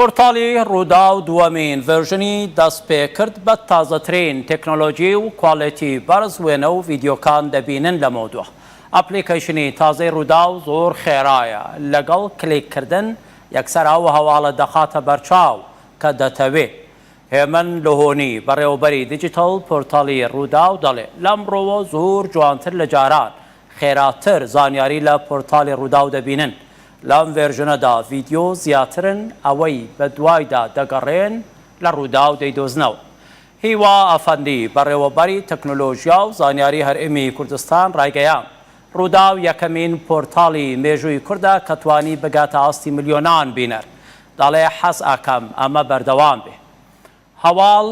پۆرتاڵی رووداو دووەمین ڤێرژنی دەستپێکرد بە تازەترین تەکنۆلۆجی و کوالێتی بەرز وێنە و ڤیدیۆکان دەبینن لەمەودوا ئەپلیکەیشنی تازەی رووداو زۆر خێرایە لەگەڵ کلیک کردن یەکسەر ئەو هەواڵە دەخاتە بەرچاو کە دەتەوێ هێمن لهۆنی بەڕێوەبەری دیجیتەڵ پۆرتاڵی رووداو دەڵێ لەمڕۆوە زۆر جوانتر لە جاران خێراتر زانیاری لە پۆرتاڵی رووداو دەبینن لەم ڤێرژنەدا ڤیدیۆ زیاترن ئەوەی بەدوایدا دەگەڕێن لە ڕووداو دەیدۆزنەوە. هیوا ئەفەندی، بەڕێوەبەری تەکنۆلۆژیا و زانیاری هەرێمی کوردستان ڕایگەیاند، ڕووداو یەکەمین پۆرتاڵی مێژووی کوردە کە توانی بگاتە ئاستی ملیۆنان بینەر، دەڵێ حەز ئەکەم ئەمە بەردەوام بێ. هەواڵ،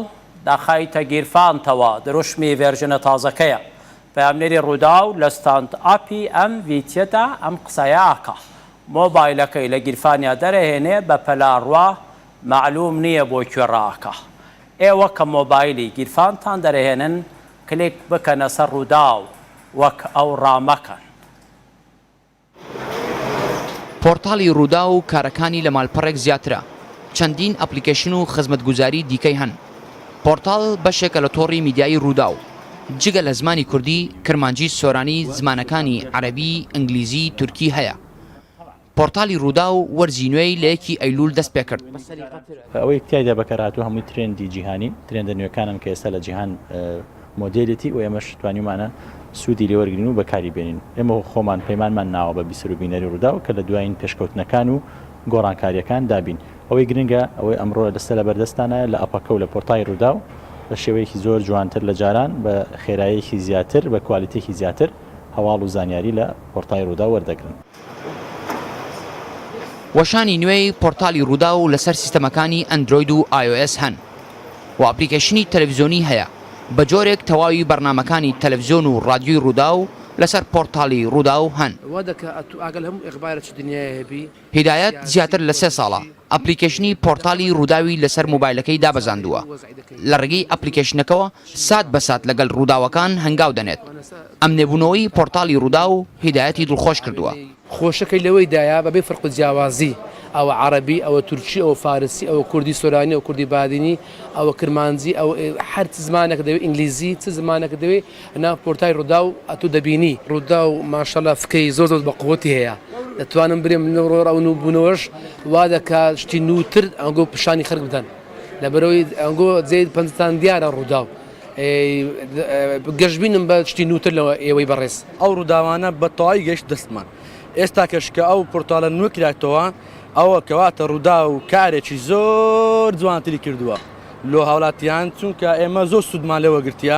داخایتە گیرفانتەوە، دروشمی ڤێرژنە تازەکەیە. پەیامنێری رووداو لە ستاند ئاپی ئەم ڤیتیەدا ئەم قسەیە ئەکا. مۆبایلەکەی لە گیرفانیا دەرئەهێنێ بە پەلا روا مەعلووم نییە بۆ کوێ رائەکا. ئێوە کە مۆبایلی گیرفانتان دەرئەهێنن کلیک بکەنە سەر رووداو وەک ئەو رامەکەن. پۆڕتاڵی رووداو کارەکانی لە مالپەڕێک زیاترە، چەندین ئەپڵیکەیشن و خزمەتگوزاری دیکەی هەن. پۆڕتاڵ بەشێکە لە تۆڕی میدیایی رووداو، جگە لە زمانی کوردی، کرمانجی، سۆرانی، زمانەکانی، عەرەبی، ئنگلیزی، تورکی، هەیە. پۆڕتاڵی رووداو وەرزی نوێی لە یەکی ئەیلوول دەست پێ کرد. ئەوەی تیایدا بەکارهاتووە هەمووی ترێندی جیهانین، ترێندە نوێکانن کە ئێستا لە جیهان مۆدێلێتی و ئێمەش توانیومانە سوودی لێ وەرگرین و بەکاری بێنین. ئێمە خۆمان پەیمانمان ناوە بە بیسەر و بینەری ڕووداو کە لە دوایین پێشکەوتنەکان و گۆڕانکارییەکان دا بین. ئەوەی گرنگە ئەوەی ئەمڕۆ لە ستە لەبەر دەستتانایە لە ئەپەکە و لە پۆرتای ڕووداو بە شێوەیەکی زۆر جوانتر لە جاران بە خێراییەکی زیاتر بە کوالیتییەکی زیاتر هەواڵ و زانیاری لە پۆرتای ڕووداو وەردەگرن. وەشانی نوێی پۆرتالی رووداو لەسەر سیستەمەکانی ئەندرۆید و ئایۆئێس هەن و ئەپلیکەیشنی تەلەفزیۆنی هەیە، بەجۆرێک تەواوی بەرنامەکانی تەلەفزیۆن و رادیۆی رووداو لەسەر پۆرتالی رووداو هەن. هیدایەت زیاتر لە سێ ساڵە ئەپلیکەیشنی پۆرتالی رووداوی لەسەر مۆبایلەکەی دابەزاندووە، لە رێگەی ئەپلیکەیشنەکەوە سات بە سات لەگەل رووداوەکان هەنگاو دەنێت، ئەم نێبوونەوەی پۆرتالی رووداو هیدایەتی دڵخۆش کردووە. خۆشەکەی لەوەیدایە بەبێ فەرق و جیاوازی، ئەوە عەرەبی، ئەوە تورکی، ئەوە فارسی، ئەوە کوردی سۆرانی، ئەوە کوردی بادینی، ئەوە کرمانجی، ئەوە ئێ، هەر چ زمانێکت دەوێت، ئینگلیزی، چ زمانێکت دەوێت، نا کورتای ڕوداو ئەتو دەبینی. ڕوداو ماشەڵا فکەی زۆر زۆر بە قوتی هەیە دەتوانم برێم لە ڕۆ ئەو نوو بونەوەش وا دەکا شتی نوو تر ئەنگۆ پشانی خەرک بدەن لەبەرەوەی ئەنگۆ جێ پەنجتان دیارە ڕوداو ئێ گەشبینم بە شتی نوو تر لەوە ئێوەی بەڕێز. ئەو ڕوداوانە بە تەواوی گەیشتە دەستمان ئێستاکەش کە ئەو پورتاڵە نوێ کراتەوە ئەوە کەواتە ڕوداو کارێکی زۆر جوانتری کردوە لۆ هاوڵاتیان چونکە ئێمە زۆر سودمان لێ وەگرتیە.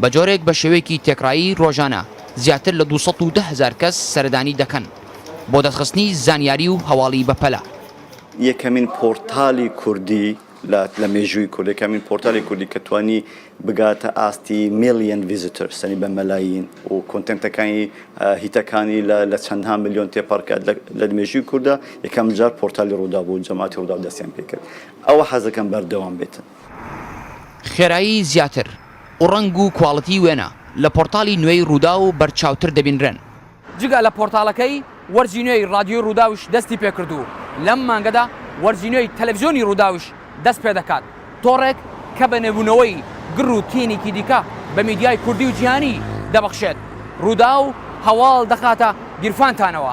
بە جۆرێک بە شێوەیەکی تێکڕایی رۆژانە زیاتر لە دوو سەد و دە هەزار کەس سەردانی دەکەن بۆ دەستخستنی زانیاری و هەواڵی بەپەلە. یەکەمین پۆرتالی کوردی لە لە مێژووی کورد یەکەمین پۆرتالی کوردی کە توانی بگاتە ئاستی ملیۆن ڤیزیتۆرس یانی بە مەلایین و کۆنتێنتەکانی هیتەکانی لە لە چەندان ملیۆن تێپەڕ کرد لە مێژووی کوردا یەکەم جار پۆرتالی رووداو بوو جەماتی رووداو دەستیان پێ کرد ئەوە حەز دەکەم بەردەوام بێتن. خێرایی زیاتر و ڕەنگ و کواڵیتی وێنە لە پۆرتاڵی نوێی رووداو بەرچاوتر دەبینرێن. جگە لە پۆرتاڵەکەی، وەرزی نوێی رادیۆی رووداویش دەستی پێکرد و لەم مانگەدا وەرزی نوێی تەلەفزیۆنی رووداویش دەست پێدەکات، تۆڕێک کە بە نوێبوونەوەی گڕ و تینیکی دیکە بە میدیای کوردی و جیهانی دەبەخشێت. رووداو هەواڵ دەخاتە گیرفانتانەوە.